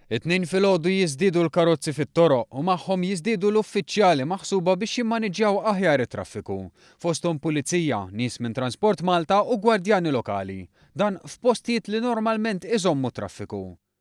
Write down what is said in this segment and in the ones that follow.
It-Tnejn filgħodu jiżdiedu l-karozzi fit-toroq u magħhom jiżdiedu l-uffiċjali maħsuba biex jimmaniġġjaw aħjar it-traffiku, fosthom pulizija, nies minn Transport Malta u gwardjani lokali, dan f'postijiet li normalment iżommu t-traffiku.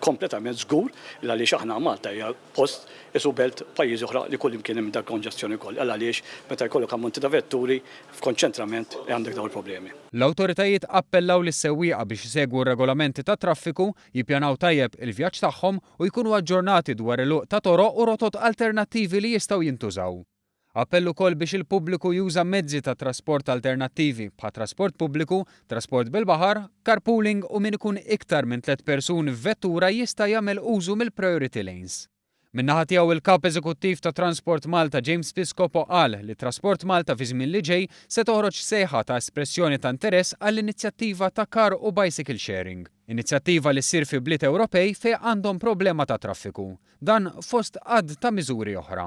Kompletament żgur li għaliex aħna Malta hija post qisu belt pajjiżi oħra li kullimkien hemm dak konġestjoni wkoll għal għaliex meta jkollok ammonti ta' vetturi f'konċentrament għandek dawn il-problemi. L-awtoritajiet appellaw lis-sewwieqa biex isegwu r-regolamenti tat-traffiku, jippjanaw tajjeb il-vjaġġ tagħhom u jkunu aġġornati dwar il-għuq ta' toroq u rotot alternattivi li jistgħu jintużaw. Appell ukoll biex il-pubbliku juża mezzi ta' trasport alternattivi, bħat trasport pubbliku, trasport bil-baħar, carpooling u min ikun iktar minn tliet persuni f'vettura jista' jagħmel użu mill-priority lanes. Min-naħa tiegħu il-Kap Eżekuttiv ta' Transport Malta James Piscopo qal li Trasport Malta fi żmien li ġej se toħroġ sejħa ta' espressjoni ta' interess għall-inizjattiva ta' car u bicycle sharing, inizjattiva li ssir fi bliet Ewropej fejn għandhom problema ta' traffiku. Dan fost għadd ta' miżuri oħra.